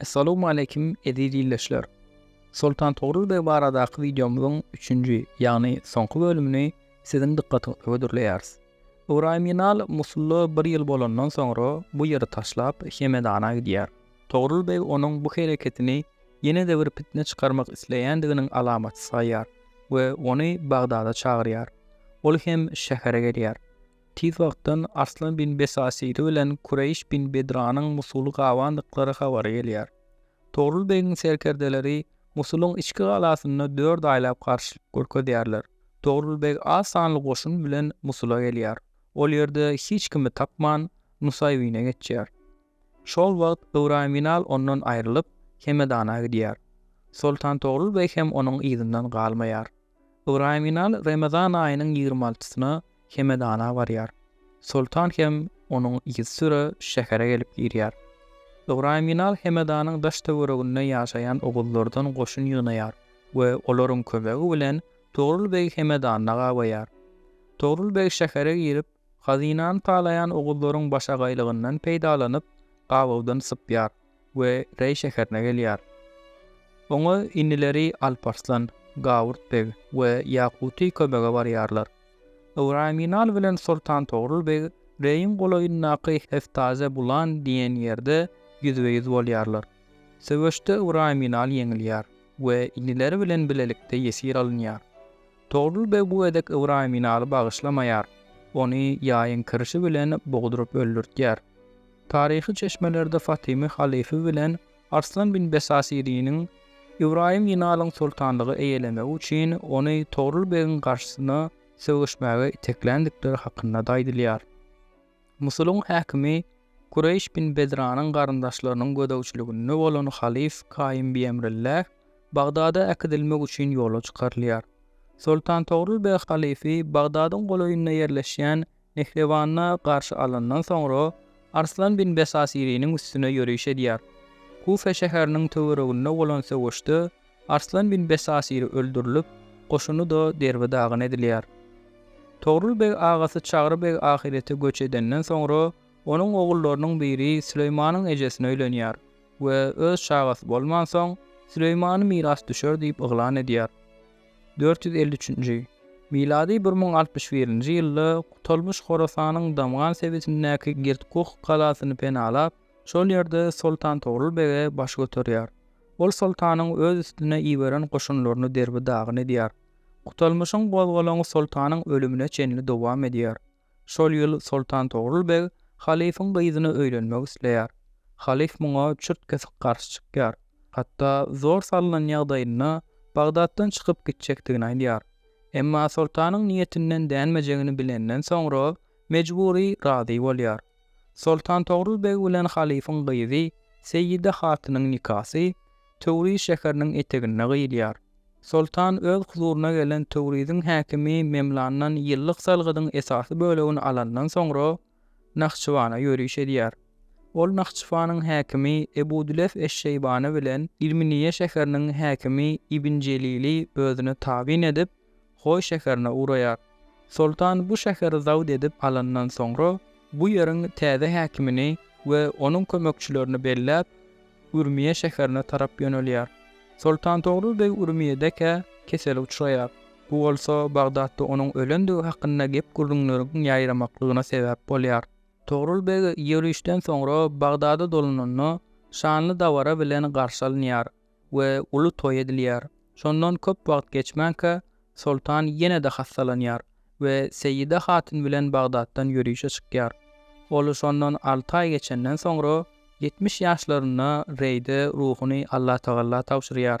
Essalawmaleýkim eziz ildeşler! Soltan Togrul beg baradaky wideomyzyň üçünji, ýagny soňky bölümini siziň dykgatyňyza hödürleýäris. Ybraýym Inal Musulda bir ýyl bolandan soňra bu ýeri taşlap, Hemedana gidýär. Togrul beg onuň bu hereketini ýene-de bir pitne çykarmak isleýändiginiň alamaty saýýar we ony Bagdada çagyrýar. Ol hem şähere gelýär. Tiz wagtdan Arslan bin Besasiri bilen Kureýş bin Bedranyň Musuly gabandyklary habary gelýär. Togrul begiň serkerdeleri Musulyň içki galasynda dört aýlap garşylyk görkezýärler. Togrul beg az sanly goşun bilen Musula gelýär. Ol ýerde hiç kimi tapman, Nusaýbine geçýär. Şol wagt Ybraýym Inal ondan aýrylyp, Hemedana gidýär. Soltan Togrul beg hem onuň yzyndan galmaýar. Ybraýym Inal Remezan aýynyň ýigrimi altysyna Hemedana barýar. Soltan hem onuň yzysüre şähere gelip girýär. Ybraýym Inal Hemedanyň daş-töwereginde ýaşaýan oguzlardan goşun ýygnaýar we olaryň kömegi bilen Togrul begi Hemedanda gabaýar. Togrul beg şähere girip, hazynany talaýan oguzlaryň başagaýlygyndan peýdalanyp, gabawdan sypýar. we Reý şäherine gelýär. Oňa inileri Alparslan, Gawurt beg we Ýakuty kömege barýarlar. Ybraýyminal bilen Soltan Togrul beg Reýiň golaýyndaky Heftaze Bulan diýen ýerde ýüzbe-ýüz bolýarlar. Söweşde Ybraýyminal ýeňilýär we inileri bilen bilelikde ýesir alynýar. Togrul beg bu gezek Ybraýyminaly bagyşlamaýar, ony ýaýyň kirşi bilen bogduryp öldürtýär. Taryhy çeşmelerde Fatymy halyfy bilen Arslan bin Besasiriniň Ybraýym Ýynalyň soltanlygy eýelemegi üçin ony Togrul begiň garşysyna söweşmäge itekländikleri hakynda-da aýdylýar. Musulyň häkimi Kureýş bin Bedranyň garyndaşlarynyň gözegçiliginde bolan halyf Kaýym biemrilläh Bagdada äkidilmek üçin ýola çykarylýar. Soltan Togrul beg halyfy Bagdadyň golaýynda ýerleşýän Mehribanda garşy alandan soňra, Arslan bin Besasiriniň üstüne ýöriş edýär. Kufa şäheriniň töwereginde bolan söweşde Arslan bin Besasiri öldürilip, goşuny-da derbi-dagyn edilýär. Togrul beg agasy Çagry beg ahirete göç edenden soňra, onuň ogullarynyň biri Süleýmanyň ejesine öýlenýär we öz çagasy bolmansoň, Süleýmany mirasdüşer diýip yglan edýär. Dört ýüz elli üçünji, milady bir müň altmyş birinji ýylda Gutalmyş Horasanyň Damgan sebitindäki Girtkuh galasyny penalap, şol ýerde Soltan Togrul bege baş göterýär. Ol soltanyň öz üstüne iberen goşunlaryny derbi-dagyn edýär. Gutalmyşyň gozgalaňy soltanyň ölümine çenli dowam edýär. Şol ýyl Soltan Togrul beg halyfyň gyzyna öýlenmek isleýär. Halyf muňa çürt-kesik garşy çykýar. Hatda zor salnan ýagdaýynda Bagdatdan çykyp gitjekdigini aýdýar. Emma soltanyň niýetinden dänmejegini bilenden soňra mejbury razy bolýar. Soltan Togrul beg bilen halyfyň gyzy Seýide hatynyň nikasy Töwriz şäheriniň eteginde gyýylýar. Soltan öz huzuryna gelen Töwriziň häkimi Memlandan ýyllyk salgydyň esasy bölegini alandan soňra, Nahçywana ýöriş edýär. Ol Nahçywanyň häkimi Ebu Dülef eş-Şeýbany bilen Ilminiýe şäheriniň häkimi Ibn Jelili özüne tabyn edip, Hoý şäherine ugraýar. Soltan bu şäheri zabt edip alandan soňra, bu ýeriň täze häkimini we onuň kömekçilerini belläp, Ürmiýe şäherine tarap ýönelýär. Soltan Togrul beg Ürmiýedekä kesele uçraýar. Bu bolsa Bagdatda onuň ölendigi hakynda gep-gürrüňleriň ýaýramaklygyna sebäp bolýar. Togrul beg ýörişden soňra Bagdada dolananda, şanly dabara bilen garşy alynýar. we uly toý edilýär. Şondan köp wagt geçmänkä, soltan ýene-de hassalanýar we Seýida hatyn bilen Bagdatdan ýörişe çykýar. Ol şondan alty aý geçenden soňra, ýetmiş ýaşlarynda Reýde ruhuny Allatagalla tabşyrýar.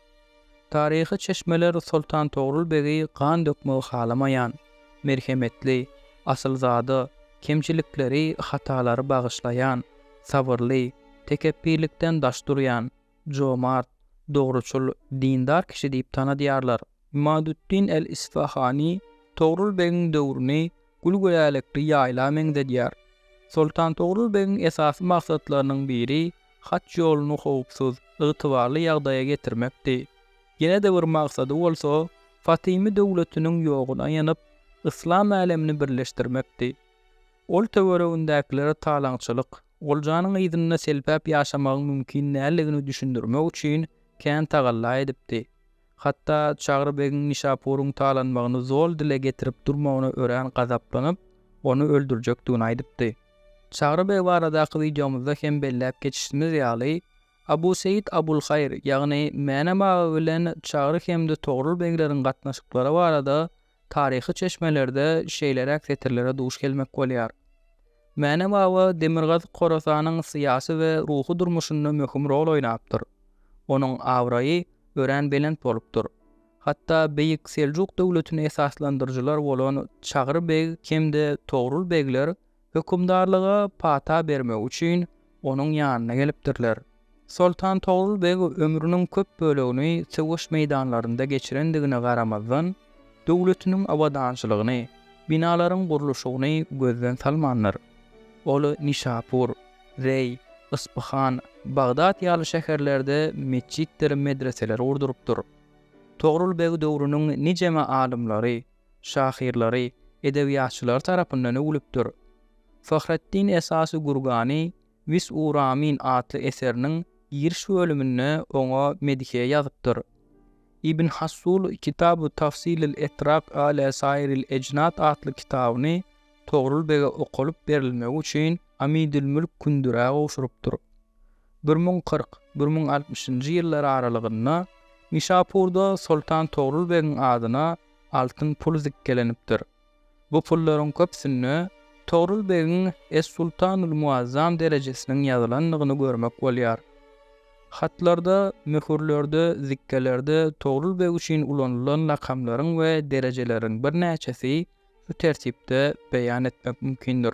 Taryhy çeşmeler Soltan Togrul begi gan dökmegi halamaýan, merhemetli, asylzada, kemçilikleri, hatalary bagyşlaýan, sabyrly, tekepbirlikden daş durýan, jomart, dogruçyl, dindar kişi diýip tanadýarlar. Imaduddin el-Isfahany Togrul begiň döwrüni gül-gülälekli ýaýla meňzedýär. Soltan Togrul begiň esasy maksatlarynyň biri haç ýoluny howpsuz, ygtybarly ýagdaýa getirmekdi. Ýene-de bir maksady bolsa, Fatymy döwletiniň ýoguna ýanyp, yslam älemini birleşdirmekdi. Ol töweregindäkilere talaňçylyk, oljanyň yzynda selpäp ýaşamagyň mümkin däldigini düşündirmek üçin kän tagalla edipdi. Hatda Çagry begiň Nişapuryň talanmagyny zol dile getirip durmagyna örän gazaplanyp, ony öldürjekdigini aýdypdy. Çagry beg baradaky wideomyzda hem belläp geçişimiz ýaly, Abu Seýit Abul Haýr, ýagny Mänem aga bilen Çagry hem-de Togrul begleriň gatnaşyklary barada Taryhy çeşmelerde şeýleräk setirlere duş gelmek bolýar, Mäne baba Demirgazyk Horasanyň syýasy we ruhy durmuşynda möhüm rol oýnapdyr. Onuň abraýy örän belent bolupdyr. Hatda Beýik Seljuk döwletini esaslandyryjylar bolan Çagry beg hem-de Togrul begler Hökümdarlyga pata bermek üçin onuň ýanyna gelipdirler. Soltan Togrul beg ömrüniň köp bölegini söweş meýdanlarynda geçirendigine garamazdan, döwletiniň abadançylygyny, binalaryň gurluşygyny gözden salmandyr. Ol Nişapur, Reý, Yspyhan, Bagdat ýaly şäherlerde metjitdir medreseler gurdurypdyr. Togrul beg döwrüniň nijeme alymlary, şahyrlary, edebiýatçylary tarapyndan öwlüpdir. Fahreddin esasy Gurgany wis'u ramin atly eseriniň giriş bölüminde oňa medhiýe ýazypdyr. Ibn Hassul Kitabu tafsilil etraq ala sairil ejnad atly kitabyny Togrul bege okalyp berilmegi üçin Amidül mülk Kündürä gowşurypdyr. Bir müň kyrk, bir müň altmyşynjy ýyllar aralygynda Nişapurda Soltan Togrul begiň adyna altyn pul zikgelenipdir. Bu pullaryň köpüsinde Togrul begiň Es-Sultanul Muazzam derejesiniň ýazylandygyny görmek bolýar. Hatlarda, möhürlerde, zikgelerde Togrul beg üçin ulanylan lakamlaryň we derejeleriň birnäçesi şu tertipde beýan etmek mümkindir.